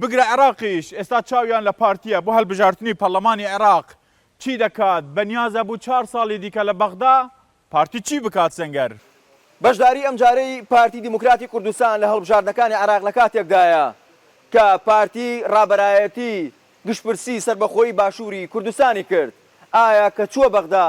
بگرە عێراقیش ئێستا چاویان لە پارتییە بۆ هەلبژارتنی پەرلەمانی عێراق چی دەکات بەنیازە بو چار سالی دیکە لە بەغدا پارتی چی بکات سەنگەر. بەشداری ئەمجارەی پارتی دیموکراتی کوردستان لە هەڵبژاردنەکانی عێراق لە کاتێکدایە کە پارتی رابەرایەتی گشتپرسی سەربەخۆیی باشووری کوردستانی کرد، ئایا کە چووە بەغدا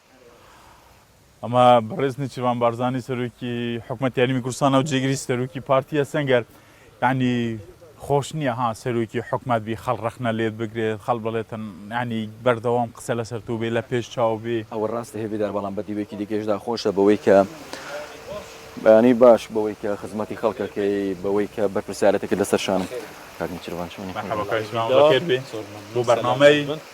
ئەمە بەڕێز نیچیرڤان بارزانی سەرۆکی حکومەت یاریمی کوردستان و جێگری سەرۆکی پارتیە سەنگەر ینی خۆش نییە ها سەرۆکی حکومت بی خەڵ ڕەخنە لێت بگرێت خەڵ بڵێتن ینی بەردەوام قسە لەسەر تو بێ لە پێش چاو بێ ئەوە ڕاستە هێڤیدار بەڵام بە دیوێکی دیکەشدا خۆشە بەوەی کە بەیانی باش بەوەی کە خزمەتی خەڵکەکەی بەوەی کە بەرپرسیارەتەکە لەسەر شانم کاک نیچیرڤان چۆنی بۆ بەرنامەی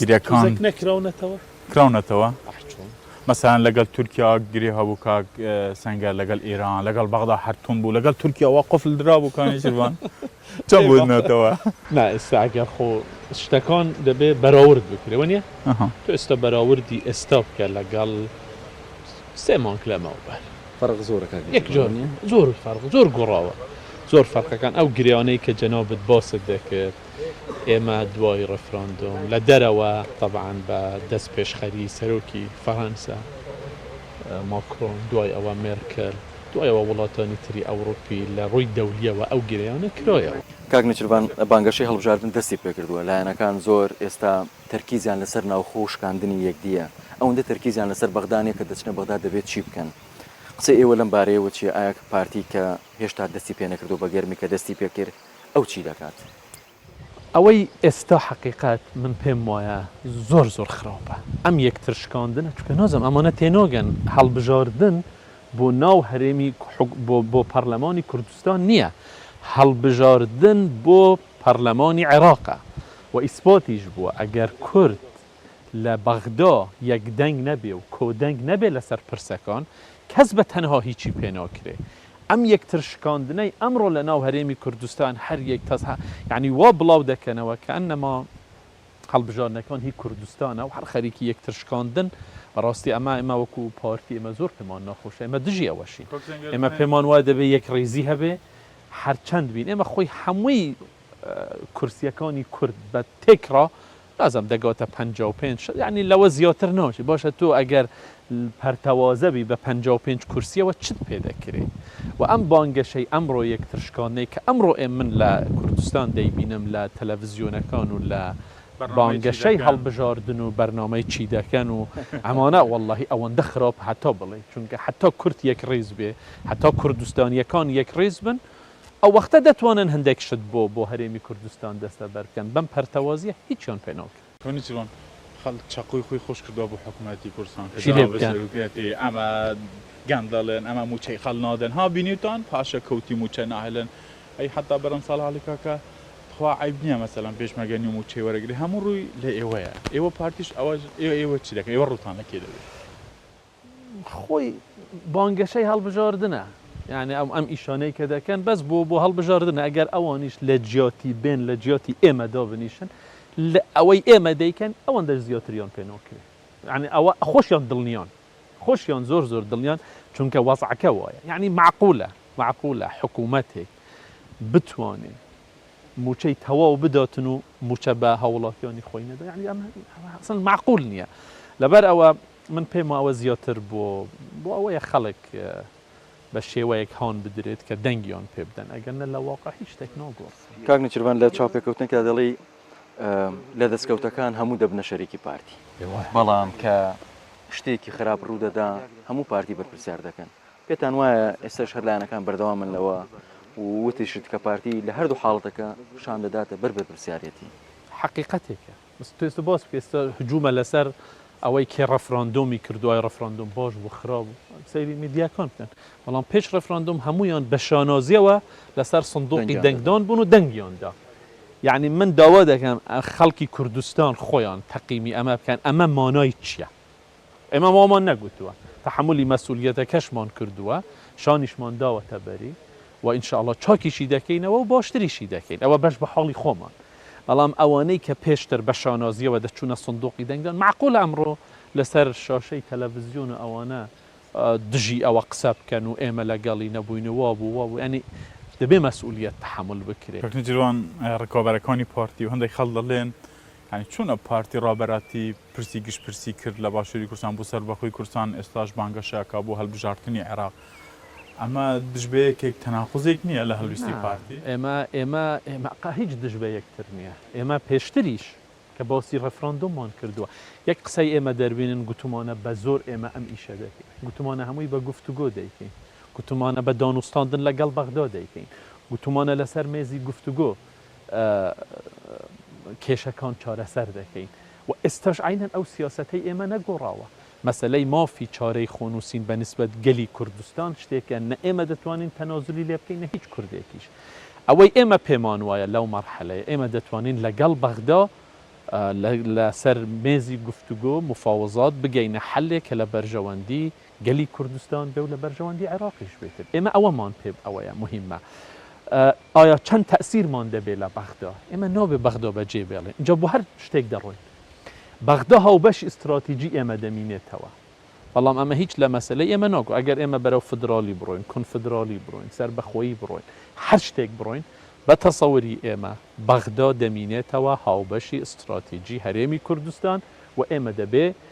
گرێکان کراونەتەوە مەسەن لەگەل تورکیا گرێ هەبوو کاک سنگەر لەگەل ئێران لەگەڵ بەغدا هەرتون بوو لەگەل تورکیاوە قفل درا بوو کانیشوان چە بوونەتەوە نا ئێستاگەر خۆ شتەکان دەبێ بەراورد بکرێ وە نیە تو ئێستا بەراوردی ئێستا بکە لەگەڵ سێ مانک لەمەوە بەر فەرق زۆرەکان یەک جۆر زۆر فەرق زۆر گۆڕاوە زۆر فەرقەکان ئەو گریانەی کە جەنابەت باست دەکرد ئێمە دوای ڕێفراندۆم لە دەرەوە تەبعەن بە دەستپێشخەری سەرۆکی فەرەنسا ماکرۆن، دوای ئەوە مێرکل، دوای ئەوە وڵاتانی تری ئەوڕوپی لە ڕووی دەولییەوە ئەو گرێیانە کرایەوە. کاک نێچیرڤان، بانگەشەی هەڵبژاردن دەستی پێکردووە، لایەنەکان زۆر ئێستا تەرکیزیان لەسەر ناوخۆ و شکاندنی یەکدییە، ئەوەندە تەرکیزیان لەسەر بەغدا نییە کە دەچنە بەغدا دەبێت چی بکەن؟ قسەی ئێوە لەم بارەیەوە چییە؟ ئایا پارتی کە هێشتا دەستی پێنەکردووە بە گەرمی کە دەستی پێکرد، ئەو چی دەکات؟ ئەوەی ئێستا حەقیقەت من پێم وایە زۆر زۆر خراپە ئەم یەکتر شکاندنە چونکە نازانم ئەمانە تێناگەن هەڵبژاردن بۆ ناو هەرێمی بۆ پەرلەمانی کوردستان نییە هەڵبژاردن بۆ پەرلەمانی عێراقە و ئیسپاتیش بووە ئەگەر کورد لە بەغدا یەک دەنگ نەبێ و کۆدەنگ نەبێ لەسەر پرسەکان، کەس بە تەنها هیچی پێ ناکرێ. ئەم یەکتر شکاندنەی ئەمڕۆ لە ناو هەرێمی کوردستان هەر یەک تەز هە یانی وا بڵاو دەکەنەوە کە ئەنما هەڵبژاردنەکان هی کوردستانە و هەر خەریکی یەکتر شکاندن، بە ڕاستی ئەمە ئێمە وەکو پارتی ئێمە زۆر پێمان ناخۆشە، ئێمە دژی ئەوەشین. ئێمە پێمان وایە دەبێ یەکڕیزی هەبێ هەر چەند بین. ئێمە خۆی هەمووی کورسییەکانی کورد بە تێکڕا بازم دەگۆتە پەنجا و پێنج شەست یانی لەوە زیۆتر نۆچی بۆشە تۆ ئەگەر پەرتەوازە بی بە پەنجا و پێنج کورسیەوە چت پێ دەکرێ وە ئەم بانگەشەی ئەمڕۆ یەکتر شکاندنەی کە ئەمڕۆ ئێ من لە کوردستان دەیبینم لە تەلەفزیۆنەکان و لە بانگەشەی هەڵبژاردن و بەرنامەی چی دەکەن و ئەمانە وەڵاهی ئەوەندە خراپ هەتا بڵێی چونکە هەتا کورد یەکڕیز بێ هەتا کوردستانیەکان یەکڕیز بن ئەوەختە دەتوانن هەندێک شت بۆ بۆ هەرێمی کوردستان دەستەبەر بکەن بەم پەرتەوازیە هیچیان پێ ناڵکێن. تۆنی چلۆن خەڵک چەقۆی خۆی خۆش کردوە بۆ حکومەتی کوردستان کە جا بەشێک وتویەتی ئەمە گەندەڵن ئەمە موچەی خەڵ نادەن ها بینیوتان پاشە کەوتی موچە ناهێلن ئەی حەتا بەرەم ساڵحاڵی کاکە تخوا عەیب نیە مەسەلەن پێشمەرگە نیو موچەی وەرەگری هەموو ڕووی لە ئێوەیە ئێوە پارتیش ئەوە ئێوە چی دەکەن ئێوە ڕووتان لە کێ دەبێ. خۆی بانگەشەی هەڵبژاردنە یعنی ئەم ئەم ئیشانەی کە دەکەن بەس بۆ بۆ هەڵبژاردنە ئەگەر ئەوانیش لە جیاتی بێن لە جیاتی ئێمە دابنیشن لە ئەوەی ئێمە دەیکەن ئەوەن دەر زیاتریان پێناکرێت یعنی ئەوە خۆشیان دڵنیان خۆشیان زۆر زۆر دڵنیان چونکە وەزعەکە وایە یعنی معقولە معقولە حکوومەتێک بتوانێت موچەی تەواو بداتن و موچە بە هاوڵاتیانی خۆی نەدا یعنی ئەمە معقول نییە لەبەر ئەوە من پێم وایە ئەوە زیاتر بۆ بۆ ئەوەیە خەڵک بە شێوەیەک هان بدرێت کە دەنگیان پێ بدەن ئەگەر نە لە واقع هیچ شتێک ناگۆڕێت. کاک نێچیرڤان لە چاوپێکەوتنێکدا دەڵێی لە دەستکەوتەکان هەموو دەبنە شەریکی پارتی بەڵام کە شتێکی خراپ ڕوو دەدا هەموو پارتی بەرپرسیار دەکەن پێتان وایە ئێستاش هەر لایەنەکان بەردەوامن لەوە وتیشت کە پارتی لە هەردوو حاڵەتەکە شان دەداتە بەر بەرپرسیارەتی. حەقیقەتێکە. توێست بۆ توێست هجوومە لەسەر ئەوەی کێ ڕفراندۆمی کردووە، ڕفراندۆم باش بوو خراپ بوو سەیری میدیاکان بکەن، بەڵام پێش ڕفراندۆم هەموویان بە شانازییەوە لەسەر سندووقی دەنگدان بوون و دەنگیان دا. یەعنی من داوا دەکەم خەڵکی کوردستان خۆیان تەقیمی ئەمە بکەن، ئەمە مانای چییە؟ ئێمە وامان نەگوتووە، تەحەمولی مەسئولیەتەکەشمان کردووە، شانیشمان داوەتە بەری و ان شاء اللە چاکیشی دەکەینەوە و باشتریشی دەکەین، ئەوە بەش بە حاڵی خۆمان، بەڵام ئەوانەی کە پێشتر بە شانازییەوە دەچوونە سندوقی دەنگدان مەعقولە ئەمڕۆ لەسەر شاشەی تەلەڤزیۆن و ئەوانە دژی ئەوە قسە بکەن و ئێمە لەگەڵی نەبووین و وا بوو وا بوو، یانی دەبێ مەسئولیەت تەحەمول بکرێ. کاک نێچیروان، ڕکابەرەکانی پارتی و هەندێک خەڵک دەڵێن یانی چۆنە پارتی ڕابەراتی پرسی گشت پرسی کرد لە باشوری کوردستان بوو سەربەخۆی کوردستان ئێستاش بانگەشە ئەکا بۆ هەلبژارتنی عێراق ئەمە دژ بە یەکێک تەناقوزێک نیە لە هەلویستی پارتی؟ نا ئێمە ئێمە قە هیچ دژ بە یەکتر نیە ئێمە پێشتریش کە باسی ڕێفراندۆممان کردوە یەک قسەی ئێمە دەربینن گوتمانە بە زۆر ئێمە ئەم ئیشە دەکەین گوتمانە هەمووی بە گفتوگۆ دەیکەین گوتمانە بە دانوستاندن لە گەڵ بەغدا دەیکەین گوتمانە لە سەر مێزی گفتوگۆ کێشەکان چارەسەر دەکەین و ئێستاش عەینەن ئەو سیاسەتەی ئێمە نەگۆڕاوە. مەسەلەی مافی چارەی خۆنووسین بە نیسبەت گەلی کوردستان شتێکە نە ئێمە دەتوانین تەنازولی لێ بکەین نە هیچ کوردێکیش. ئەوەی ئێمە پێمان وایە لەو مەرحەلەیە ئێمە دەتوانین لەگەڵ بەغدا لەسەر مێزی گفتوگۆ، مفاوەزات، بگەینە حەلێک کە لە بەرژەوەندی گەلی کوردستان بێ و لە بەرژەوەندی عێراقیش بێت. ئێمە ئەوەمان پێ ئەوەیە موهیمە. ئایا چەند تەئسیرمان دەبێ لە بەغدا؟ ئێمە نابێ بەغدا بە جێ بێڵین. ئینجا بۆ هەر شتێک دەڕۆین. بەغدا هاوبەشی ستراتیجی ئێمە دەمینێتەوە. بەڵام ئەمە هیچ لە مەسەلەی ئێمە ناگۆ. ئەگەر ئێمە بەرەو فدرالی بڕۆین، کونفدرالی بڕۆین، سەربەخۆیی بڕۆین، هەر شتێک بڕۆین، بە تەسەوری ئێمە بەغدا دەمینێتەوە هاوبەشی ستراتیجی هەرێمی کوردستان و ئێمە دەبێ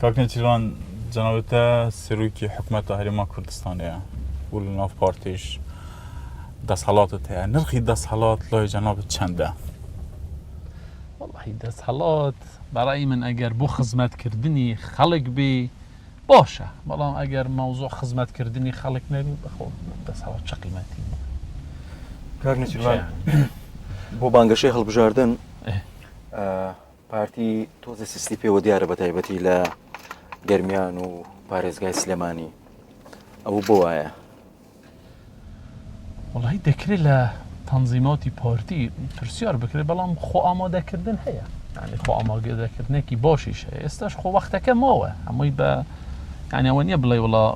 کاک نێچیروان جەنابتە سەرۆکی حکومەتە هەرێما کوردستانەیە و لە ناو پارتیش دەسەڵاتت هەیە نرخی دەسەڵات لای جەنابەت چەندە؟ وڵی دەسەڵات بەڕی من ئەگەر بۆ خزمەتکردنی خەڵک بێ باشە بەڵام ئەگەر ماوزۆ خزمەتکردنی خەڵک نەبی بەخۆ دەسەڵات چ قیمەتی کاک نێچیروان بۆ بانگەشەی هەڵبژاردن پارتی تۆزێ سستی پێوە دیارە بە تایبەتی لە گەرمیان و پارێزگای سلێمانی ئەو بۆ وایە وڵی دەکرێت لە تەنزیماتی پارتی پرسیار بکرێت بەڵام خۆ ئامادەکردن هەیە ینی خۆ ئاماگەدەکردنێکی باشیش هەیە ئێستاش خۆ وەختەکە ماوە هەمووی بە ینیەوە نیە بڵێ وڵا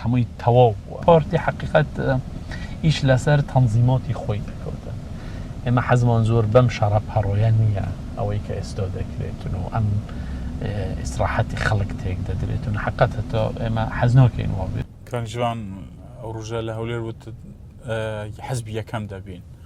هەمووی تەواو بووە پارتی حقیقت ئیش لەسەر تەنزیماتی خۆی دەکەوتن ئێمە حەزمان زۆر بەم شەڕە پەڕۆیە نییە ئەوەی کە ئێستا دەکرێتن و ئەم ئیسراحەتی خەڵک تێک دەدرێتن حقت هەتا ئێمە حەزنۆکەین وابێت کەنجوان ئەو ڕژە لە هەولێر وت حەزبی یەکەم دەبین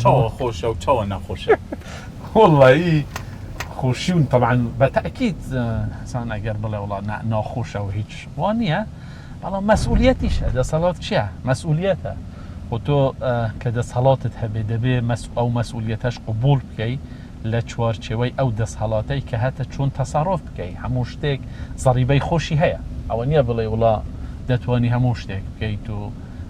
چاوە خۆشە و چاوە ناخۆشە. وەڵایی خۆشیون تەبعەن بە تەئکید حەسان ئەگەر بڵێ وڵا ناخۆشە و هیچ وا نییە بەڵام مەسئولیەتیشە دەسەڵات چییە مەسئولیەتە خۆ تۆ کە دەسەڵاتت هەبێ دەبێ مەس ئەو مەسئولیەتەش قبول بکەی لە چوارچێوەی ئەو دەسهەڵاتەی کە هەتە چۆن تەسەڕۆف بکەی هەموو شتێک زەڕیبەی خۆشی هەیە ئەوە نییە بڵێ وڵا دەتوانی هەموو شتێک بکەیت و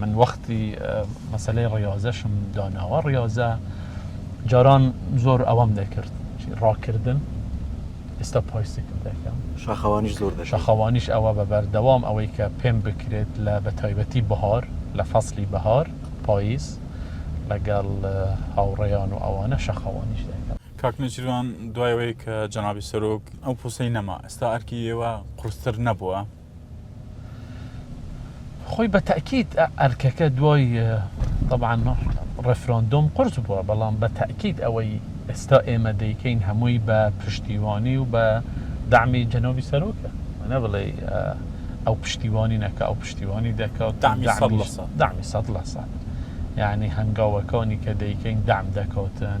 من وەختی مەسەلەی ڕیاضەشم داناوە ڕیاضە جاران زۆر ئەوەم دەکرد ڕاکردن ئێستا پایسیکل دەکەم شاخەوانیش زۆر دە شاخەوانیش ئەوە بە بەردەوام ئەوەی کە پێم بکرێت لە بە تایبەتی بەهار لە فەصلی بەهار پاییز لەگەڵ هاوڕێیان و ئەوانە شەخەوانیش دەکەم کاکنەجیروان دوایەوەی کە جەنابی سەرۆک ئەو پوسەی نەما ئێستا ئەرکی ئێوە قرستر نەبووە خۆی بە تەئکید ئەرکەکە دوای تەبعەن ڕێفراندۆم قورس بووە بەڵام بە تەئکید ئەوەی ئێستا ئێمە دەیکەین هەمووی بە پشتیوانی و بە دەعمی جەنابی سەرۆکە وەنا بڵێ ئەو پشتیوانی نەکا ئەو پشتیوانی دەکا و دەعمی سەد لە سەد یانی هەنگاوەکانی کە دەیکەین دەعم دەکاتن.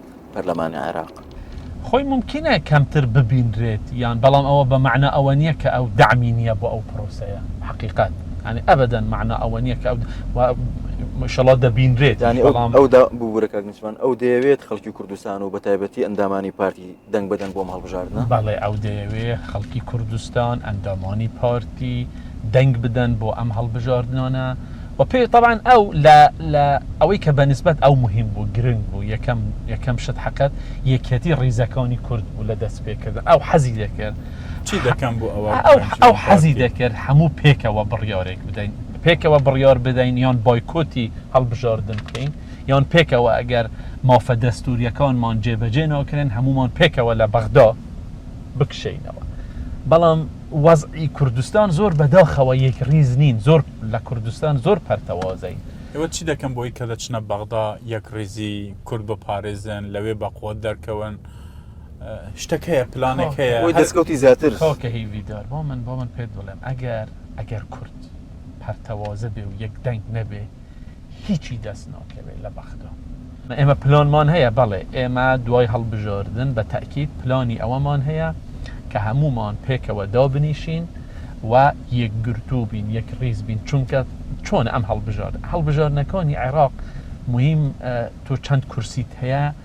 پەرلەمانی عێراق. خۆی مومکینە کەمتر ببینرێت یان بەڵام ئەوە بە مەعنا ئەوە نییە کە ئەو دەعمی نییە بۆ ئەو پرۆسەیە حەقیقەت یانی ئەبەدەن مەعنا ئەوە نییە کە مشەڵا دەبینرێت یانی بەڵام ئەو دا ببوورە کاک نیشمان ئەو دەیەوێت خەڵکی کوردستان و بە تایبەتی ئەندامانی پارتی دەنگ بدەن بۆم هەڵبژاردنە بەڵێ ئەو دەیەوێ خەڵکی کوردستان ئەندامانی پارتی دەنگ بدەن بۆ ئەم هەڵبژاردنانە وە پێ تەبعەن ئەو لە لە ئەوەی کە بەنسبەت ئەو مهم بوو گرنگ بوو یەکەم یەکەم شت حەقەت یەکیەتی ڕیزەکانی کورد بوو لە دەست پێ کردن ئەو حەزی دەکرد چی دەکەم بۆ ئەوە ئەو حەزی دەکرد هەموو پێکەوە بڕیارێک بدەین پێکەوە بڕیار بدەین یان بایکۆتی هەڵبژاردن بکەین یان پێکەوە ئەگەر مافە دەستوریەکانمان جێبەجێ ناکرێن هەموومان پێکەوە لە بەغدا بکشێینەوە بەڵام وەزعی کوردستان زۆر بەداخەوە یەک ڕیز نین زۆر لە کوردستان زۆر پەرتەوازەین. ئێوە چی دەکەن بۆی کە دەچنە بەغدا یەکڕیزی کورد بپارێزن لەوێ بە قوت دەرکەون شتەک هەیە پلانێک هەیە بۆی دەستکەوتی زیاتر؟ کاکە هیڤیدار با من با من پێت بڵێم ئەگەر ئەگەر کورد پەرتەوازە بێ و یەک دەنگ نەبێ هیچی دەست ناکەوێت لە بەغدا. ئێمە پلانمان هەیە، بەڵێ ئێمە دوای هەڵبژاردن بە تەئکید پلانی ئەوەمان هەیە کە هەموومان پێکەوە دابنیشین و یەکگرتوو بین، یەکڕیز بین، چونکە چۆنە ئەم هەڵبژاردنە، هەڵبژاردنەکانی عێراق موهیم تۆ چەند کورسیت هەیە،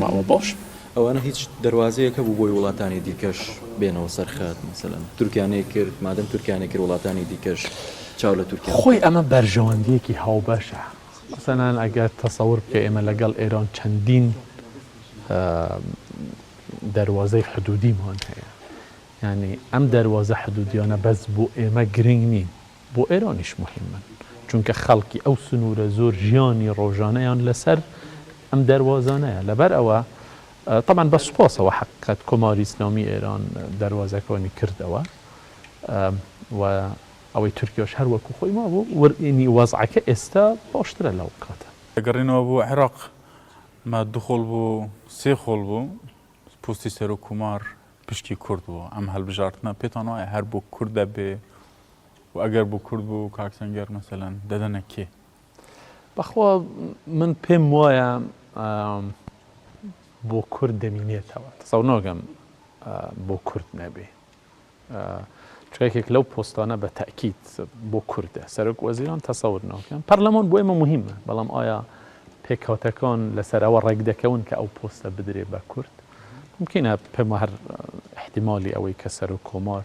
ماوە باش ئەوانە هیچ دەروازەیەک هەبوو بۆی وڵاتانی دیکەش بێنەوە سەر خەت مەسەلەن تورکیا نەیکرد مادەم تورکیا نەیکرد وڵاتانی دیکەش چاو لە تورکیا بکەن. خۆی ئەمە بەرژەوەندییەکی هاوبەشە مەسەلەن ئەگەر تەسەور بکەی ئێمە لەگەڵ ئێران چەندین دەروازەی حدوودیمان هەیە یانی ئەم دەروازە حدوودیانە بەس بۆ ئێمە گرنگ نین بۆ ئێرانیش موهیمن، چونکە خەڵکی ئەو سنوورە زۆر ژیانی ڕۆژانەیان لەسەر ئەم دەروازانەیە، لەبەر ئەوە تەبعەن بە سوپاسەوە حەقیقەت کۆماری ئیسلامی ئێران دەروازەکانی کردەوە و ئەوەی تورکیاش هەر وەکو خۆی مابوو و ئینی وەزعەکە ئێستا باشترە لەو کاتە. دەگەڕێنەوە بۆ عێراق ما دوو خۆڵ بوو سێ خۆڵ بوو پۆستی سەرۆک کۆمار پشکی کورد بوو ئەم هەڵبژاردنە پێتان وایە هەر بۆ کورد دەبێ و ئەگەر بو کورد بو کاک سەنگەر مەسەلەن دەدەنە کێ؟ بەخوا من پێم وایە بۆ کورد دەمینێتەوە تەسەو نۆگەم بۆ کورد نەبێ چێکێک لەو پۆستانە بە تاکییت بۆ کوردە سەرک وەزیران تەسەور ناکەم پەرلەمان بۆ ئێمە مهمە بەڵام ئایا پێکهاتەکان لەسەرەوە ڕێک دەکەون کە ئەو پۆستە بدرێ بە کورد ممکنە پێمە هەر احتیممالی ئەوەی کە سەر و کۆمار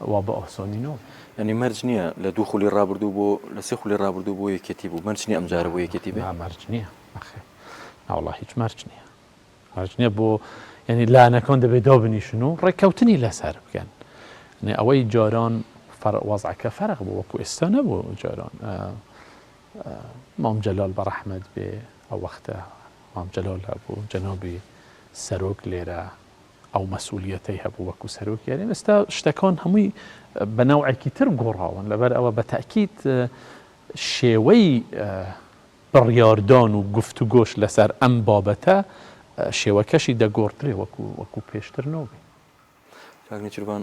وا بە ئۆهسۆنی نۆ. یانی مەرج نیە لە دوو خولی ڕابردوو بۆ لە سێ خولی ڕابردوو بۆ یەکێتی بوو مەرج نیە ئەمجارە بۆ یەکێتی بێ؟ نا مەرج نیە نەخێر ناوەڵا هیچ مەرج نیە مەرج نیە بۆ یعنی لانەکەون دەبێت دۆ بنیشن و ڕێککەوتنی لەسەر بکەن یعنی ئەوەی جاران فەر وەزعەکە فەرق بوو وەکو ئێستا نەبوو جاران مام جەلال بە ڕەحمەت بێ ئەو وەختە مام جەلال هەبوو جەنابی سەرۆک لێرە ئەو مەسئولیەتەی هەبوو وەکو سەرۆکی هەرێم، ئێستا شتەکان هەمووی بە نەوعێکی تر گۆڕاون، لەبەرئەوە بە تەئکید شێوەی بڕیاردان و گفتوگۆش لەسەر ئەم بابەتە شێوەکەشی دەگۆڕدرێ وەکو پێشتر نۆبێ. کاک نێچیرڤان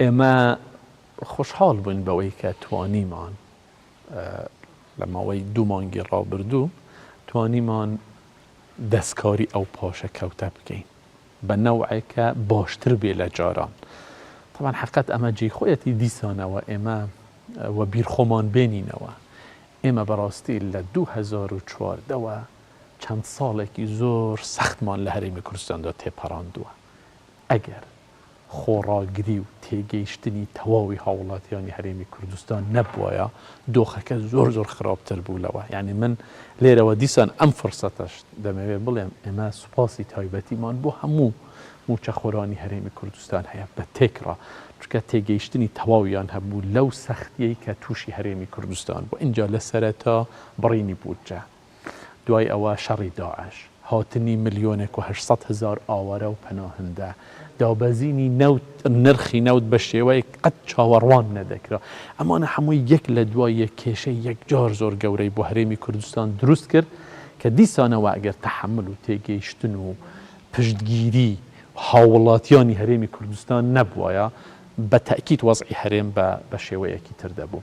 ئێمە خۆشحاڵ بووین بەوەی کە توانیمان لە ماوەی دوو مانگی ڕابردوو توانیمان دەستکاری ئەو پاشەکەوتە بکەین بە نەوعێک کە باشتر بێ لە جاران. تەبعەن حەقەت ئەمە جێی خۆیەتی دیسانەوە ئێمە وەبیر خۆمان بێنینەوە، ئێمە بەڕاستی لە دوو هەزار و چواردە وە چەند ساڵێکی زۆر سەختمان لە هەرێمی کوردستاندا تێپەڕاندووە، ئەگەر خۆڕاگری و تێگەیشتنی تەواوی هاووڵاتیانی هەرێمی کوردستان نەبوایە دۆخەکە زۆر زۆر خراپتر بوو لەوە یانی من لێرەوە دیسان ئەم فرسەتەش دەمەوێت بڵێم ئێمە سوپاسی تایبەتیمان بۆ هەموو موچەخۆرانی هەرێمی کوردستان هەیە بە تێکڕا چکە تێگەیشتنی تەواویان هەبوو لەو سەختیەی کە تووشی هەرێمی کوردستان بۆ ئینجا لە سەرەتا بڕینی بودجە دوای ئەوە شەڕی داعش، هاتنی ملیۆنێک و هەشت سەد هەزار ئاوارە و پەناهەندە، دابەزینی نەوت، نرخی نەوت بە شێوەیەک قەت چاوەڕوان نەدەکرا. ئەمانە هەمووی یەک لە دوای یەک کێشەی یەکجار زۆر گەورەی بۆ هەرێمی کوردستان دروست کرد کە دیسانەوە ئەگەر تەحەمل و تێگەیشتن و پشتگیری هاووڵاتیانی هەرێمی کوردستان نەبوایە بە تەئکید وەزعی هەرێم بە شێوەیەکی تر دەبوو.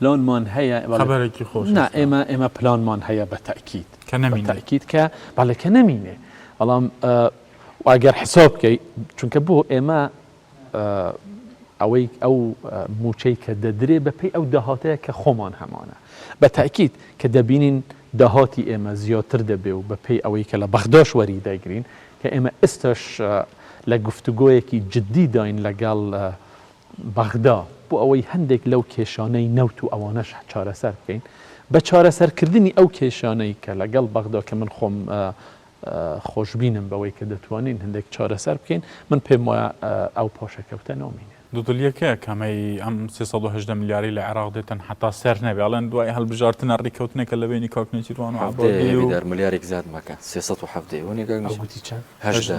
پلانمان هەیە خەبەرێکی خۆش نا ئێمە ئێمە پلانمان هەیە بە تاکیید کە نەمینێ تاکیید کە بەڵێ کە نەمینێ بەڵام ئەگەر حساب بکەیت چونکە بۆ ئێمە ئەوەی ئەو موچەی کە دەدرێ بەپی ئەو داهاتەیە کە خۆمان هەمانە بە تاکیید کە دەبینین داهاتی ئێمە زیاتر دەبێ و بەپی ئەوەی کە لە بەغداش وەری دەگرین کە ئێمە ئێستش لە گفتوگۆیەکی جددی داین لەگەڵ بەغدا بۆ ئەوەی هەندێک لەو کێشانەی نەوت و ئەوانەش چارەسەر بکەین بە چارەسەر کردنی ئەو کێشانەی کە لەگەڵ بەغدا کە من خۆم خۆشبینم بەوەی کە دەتوانین هەندێک چارەسەر بکەین من پێم وایە ئەو پاشەکەوتە نامینێ. دوودڵیەکە کامەی ئەم سێ سەد و هەژدە ملیارەی لە عێراق دێت تەنها تا سەر نەبێ ئەڵێن دوای هەڵبژارتنە ڕیکەوتنێکە لە بەینی کاک نێچیروان و عەبادی و حەڤدە ملیارێک زیاد مەکە سێ سەد و حەڤدە ی وەنێ کاک نێچیروان گوتی چەند هەژدە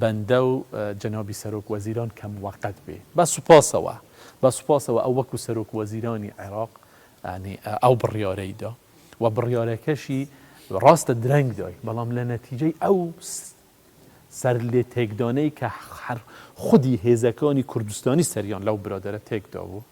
بەندە و جەنابی سەرۆک وەزیران کە موەقەت بێ. بە سوپاسەوە، بە سوپاسەوە ئەو وەکو سەرۆک وەزیرانی عێراق یانی ئەو بڕیارەی دا و بڕیارەکەشی راستە درەنگ دای بەڵام لە نەتیجەی ئەو سەرلێتێکدانەی کە خودی هێزەکانی کوردستانی سەریان لەو برادەرە تێکدابوو،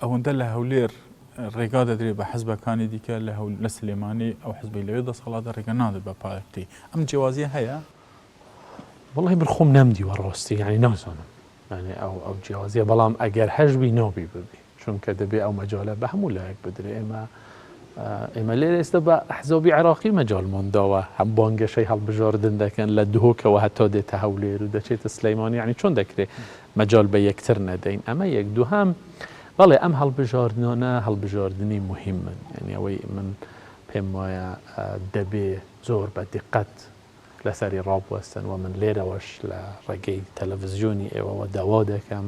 ئەوەندە لە هەولێر ڕێگا دەدرێت بە حزبەکانی دیکە لە هەول لە سلێمانی ئەو حزبەی لەوێ دەسەڵاتە ڕێگە نادرێت بە پارتی ئەم جیاوازیە هەیە وڵی من خۆم نەمدیوە ڕۆستی ینی نازانم یعنی ئەو ئەو جیاوازیە بەڵام ئەگەر هەشبی ناوبی ببی چونکە دەبێ ئەو مەجالە بە هەموو لایەک بدرێ ئێمە ئێمە لێرە ئێستا بە ئەحزابی عێراقی مەجالمان داوە هەم بانگەشەی هەڵبژاردن دەکەن لە دهۆکەوە هەتا دێتە هەولێر و دەچێتە سلێمانی یانی چۆن دەکرێت مەجال بە یەکتر نەدەین ئەمە یەک دووهەم بەڵێ ئەم هەڵبژاردنانە هەڵبژاردنی مهمن یعنی ئەوەی من پێم وایە دەبێ زۆر بە دقەت لەسەری ڕابوەستن و من لێرەوەش لە ڕێگەی تەلەڤزیۆنی ئێوەوە داوا دەکەم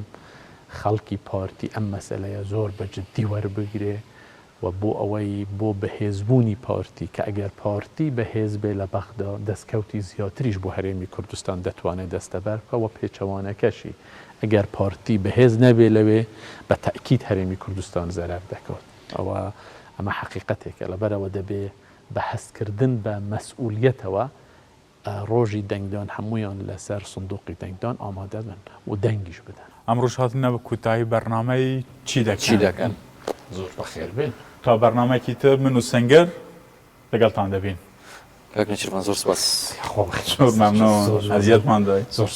خەڵکی پارتی ئەم مەسەلەیە زۆر بە جددی وەربگرێ و بۆ ئەوەی بۆ بەهێزبوونی پارتی کە ئەگەر پارتی بەهێز بێ لە بەغدا دەستکەوتی زیاتریش بۆ هەرێمی کوردستان دەتوانێ دەستەبەر بکا و پێچەوانەکەشی ئەگەر پارتی بەهێز نەبێ لەوێ بە تەئکید هەرێمی کوردستان زەرەر دەکات ئەوە ئەمە حەقیقەتێکە لەبەرئەوە دەبێ بە هەستکردن بە مەسئولیەتەوە ڕۆژی دەنگدان هەموویان لەسەر سندوقی دەنگدان ئامادە بن و دەنگیش بدەن. ئەمڕۆش هاتنە کۆتایی بەرنامەی چی دەکەن؟ زۆر بەخێر بێن. تا بەرنامەیەکی تر من و سەنگەر لەگەڵتان دەبین. کاک نێچیرڤان زۆر سوپاس. خۆ بەخێر بێن. زۆر مەمنوون ئەزیەتمان دای.